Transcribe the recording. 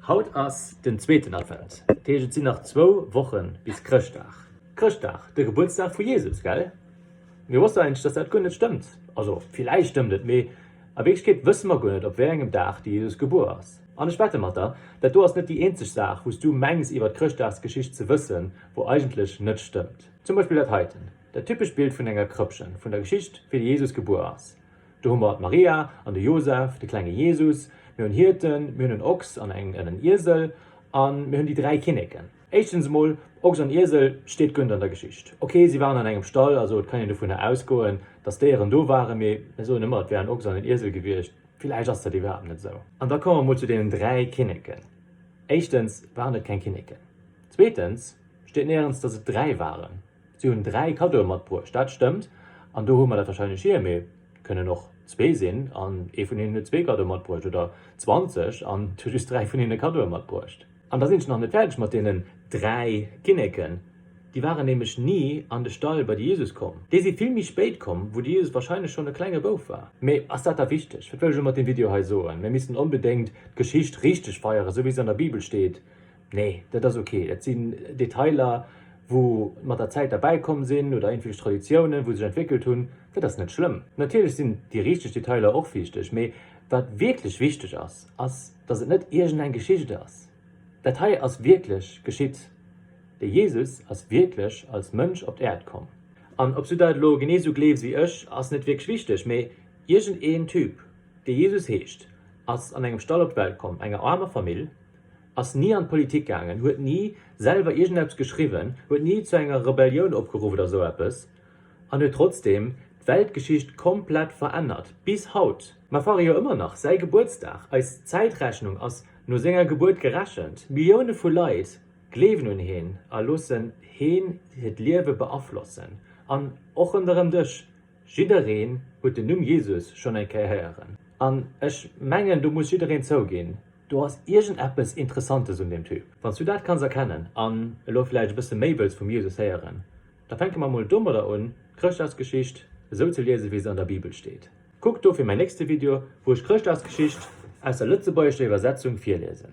Haut ass den zweeten Advent, dat heescht et sinn nach zwou Wochen bis Chrëschtdag. Chrëschtdag, de Gebuertsdag vu Jesus, gell? Mir wossten eigentlech, dass dat guer net stëmmt. Also villäicht stëmmt et, mee a Wierklechkeet wësse mer guer net, op wéi engem Dag de Jesus gebuer ass. An ech wette mat der, dat do ass net déi eenzeg Saach, wou s du mengs iwwer d'Chrëschtdagsgeschicht ze wëssen, wou eigentlech net stëmmt. Zum Beispill dat heiten, dat typescht Bild vun enger Krëppchen, vun der Geschicht, wéi de Jesus gebuer ass. Do hu mer d'Maria an de Josef, de klenge Jesus, mir hunn Hierten, mir hunn en Ochs an en en Iesel a mir hunn déi dräi Kinneken. Éischtens emol, Ochs an Iesel steet guer net an der Geschicht. Ok, si waren an engem Stall, also et kann een dovunner ausgoen, datt Déieren do waren, mee mir soen ëmmer, et wär en Ochs an en Iesel gewiescht. Villäicht ass dat iwwerhaapt net esou. An da komme mer emol zu deenen dräi Kinneken. Éischtens waren et keng Kinneken. Zweetens steet néierens, datt et dräi waren. Si hunn dräi Kaddoe matbruecht, dat stëmmt, an do hu mer dat warscheinlech hier, mee et kënnen och zwee sinn an ee vun hinnen huet zwee Kaddoe matbruecht oder zwanzeg an et hu just dräi vun hinne Kaddoe matbruecht. An da sinn ech nach net fäerdeg mat deenen dräi Kinneken, déi waren nämlech ni an de Stall bei de Jesus komm. Déi si vill méi spéit komm, wou de Jesus warscheinlech schonn e klenge Bouf war. Mee ass dat da wichteg? Wat wëll ech elo mat deem Video hei soen? Mir missten onbedéngt d'Geschicht richteg feieren, esou wéi se an der Bibel steet. Nee, dat ass ok. Dat sinn Detailer, wou mat der Zäit derbäi komm sinn oder iergendwierch Traditiounen, wou sech entwéckelt hunn. Dat ass net schlëmm. Natierlech sinn déi richteg Detailer och wichteg, mee wat wierklech wichteg ass, ass, dass et net iergendeng Geschicht ass. Dat hei ass wierklech geschitt. De Jesus ass wierklech als Mënsch op d'Äerd komm. An ob s du dat elo genee esou gleefs wéi ech, ass net wierklech wichteg, mee iergendeen Typ, dee Jesus heescht, ass an engem Stall op d'Welt komm, enger aarmer Famill, ass ni an d'Politik gaangen, huet ni selwer iergendeppes geschriwwen, huet ni zu enger Rebellioun opgeruff oder esou eppes, an huet trotzdeem d'Weltgeschicht komplett verännert, bis haut. Mer feiere jo ëmmer nach säi Gebuertsdag, eis Zäitrechnung ass no senger Gebuert gerechent, Millioune vu Leit gleewen un heen a loossen heen hiert Liewe beaflossen, an och ronderëm dech. Jiddereen huet den Numm Jesus schonn eng Kéier héieren. An ech mengen, do muss jiddereen zouginn, do ass iergendeppes Interessantes un deem Typ. Wann s du dat kanns erkennen an elo vläicht e bësse méi wëlls vum Jesus héieren, da fänke mer emol domadder un, d'Chrëschtdagsgeschicht esou ze liesen, wéi se an der Bibel steet. Kuck dofir mäin nächste Video, wou ech d'Chrëschtdagsgeschicht aus der lëtzebuergescher Iwwersetzung virliesen.